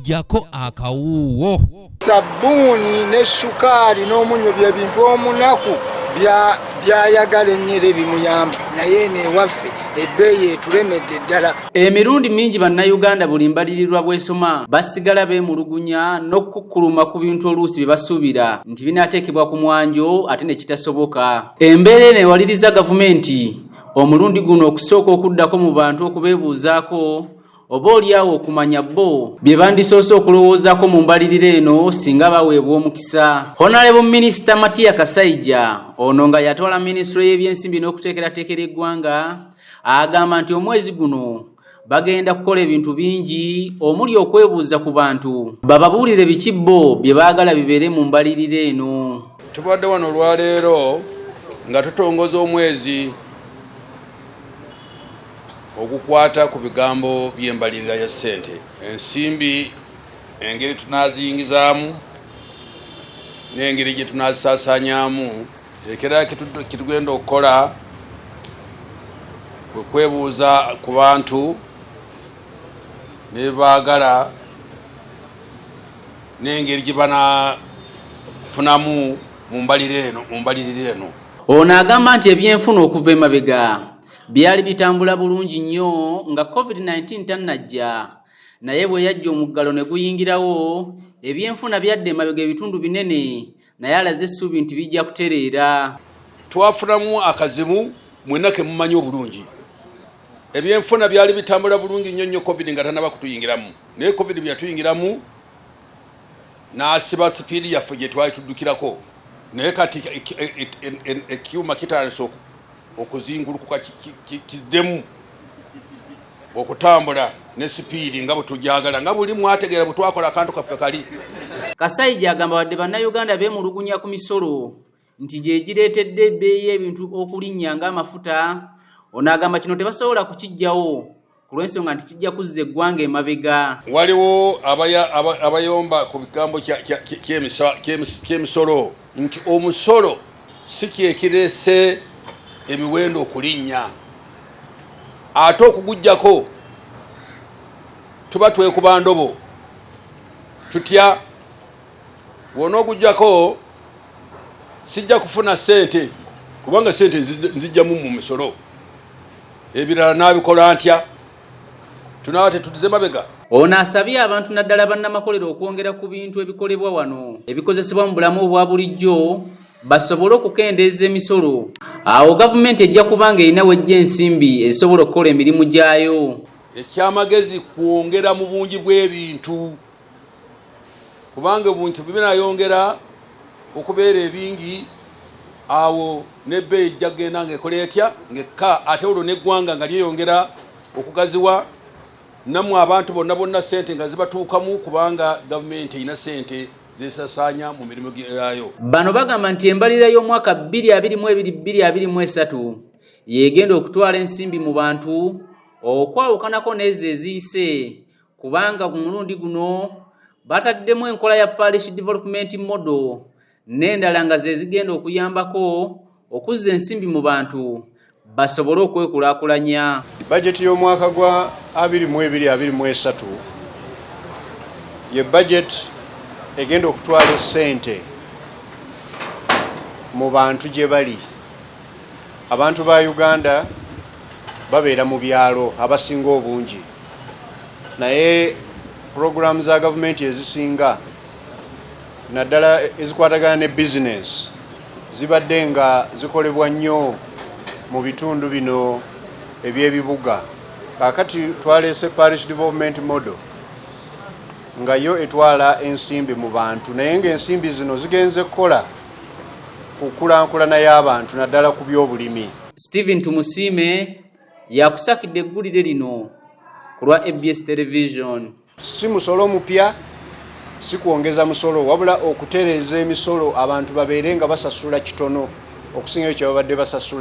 jako akawuuwo sabbuuni ne shukaali n'omunnyo bye bintu omunaku byayagala ennyera ebimuyamba naye eno ewaffe ebbeeyi etulemedde ddala emirundi mingi bannayuganda buli mbalirirwa bwesoma basigala beemulugunya n'okukukkuluma ku bintu oluusi bye basuubira nti binaateekebwa ku mwanjo ate ne kitasoboka embeera eno ewaliriza gavumenti omulundi guno okusooka okuddako mu bantu okubeebuuzaako oba olyawo okumanya bo bye bandisoose okulowoozaako mu mbalirira eno singa baweebwa omukisa honalebo minisita matiya kasaija ono nga yatwala minisitule y'ebyensimbi n'okuteekerateekera eggwanga agamba nti omwezi guno bagenda kukola ebintu bingi omuli okwebuuza ku bantu bababuulire biki bo bye baagala bibeere mu mbalirira eno tubadde wano olwaleero nga tutongoza omwezi Okukwata ku bigambo by'embalirira ya ssente, ensimbi, engeri tunaaziyingizaamu n'engeri gye tunaazisaasaanyaamu, ekirala kye tugenda okukola kwe kwebuuza ku bantu ne bye baagala n'engeri gye banafunamu mu mbalirira eno. Ono agamba nti ebyenfuna okuva emabega byali bitambula bulungi nnyo nga covid-19 tannajja naye bwe yajja omuggalo ne guyingirawo ebyenfuna byadda emabega ebitundu binene naye alaze essuubi nti bijja kutereera twafunamu akazibu mwena ke mumanyi obulungi ebyenfuna byali bitambula bulungi nnyo nnyo covid nga tanaba kutuyingiramu naye covid bwe yatuyingiramu n'asiba sipiidi yaffe gye twali tuddukirako naye kati ekyuma kitandise okuzingulukuka kiddemu okutambula ne sipiidi nga bwetujagala nga buli mwategeera bwetwakola akantu kaffe kali kasaija agamba wadde bannayuganda beemulugunya ku misolo nti gyegireetedde ebbeeyi ebintu okulinnya ng'amafuta ono agamba kino tebasobola kukijjawo ku lw'ensonga nti kijja kuzza eggwanga emabega. Waliwo abayomba ku bigambo ky'emisolo nti omusolo si kyekireese emiwendo okulinnya ate okugujjako tuba twekuba ndobo tutya wona ogujjako sijja kufuna ssente kubanga ssente nzijjamu mu misolo. Ebirala nabikola ntya? Tunaaba tetuddize mabega. Ono asabye abantu naddala bannamakolero okwongera ku bintu ebikolebwa wano ebikozesebwa mu bulamu obwa bulijjo basobole okukendeeza emisolo awo gavumenti ejja kubanga erina wejja ensimbi ezisobola okukola emirimu gyayo ekyamagezi kwongera mu bungi bw'ebintu kubanga ebintu binayongera okubeera ebingi awo nebbeeyi ejja kugenda nga ekola etya ngekka ate olwo neggwanga nga lyeyongera okugaziwa namwe abantu bonna bonna sente nga zibatuukamu kubanga gavumenti erina sente zesasaanya mu mirimu gyayo bano bagamba nti embalira y'omwaka 222223 yegenda okutwala ensimbi mu bantu okwawukanako neezo eziyise kubanga ku mulundi guno bataddemu enkola ya parish development model n'endala nga ze zigenda okuyambako okuzza ensimbi mu bantu basobole okwekulaakulanya bajeti y'omwaka gwa 2223 ye bajeti egenda okutwala esente mu bantu gye bali Abantu ba Uganda babeera mu byalo abasinga obungi, naye pulogulaamu za gavumenti ezisinga naddala ezikwatagana ne bizinensi zibadde nga zikolebwa nnyo mu bitundu bino eby'ebibuga. Kaakati twaleese parish development model nga yo etwala ensimbi mu bantu naye ng'ensimbi zino zigenze kukola ku kulankulana y'abantu naddala ku by'obulimi. Steven Tumusiime yakusakidde eggulire lino ku lwa ABS Television. Si musolo mupya si kwongeza musolo wabula okutereeza emisolo abantu babeere nga basasula kitono okusingayo kye babadde basasula.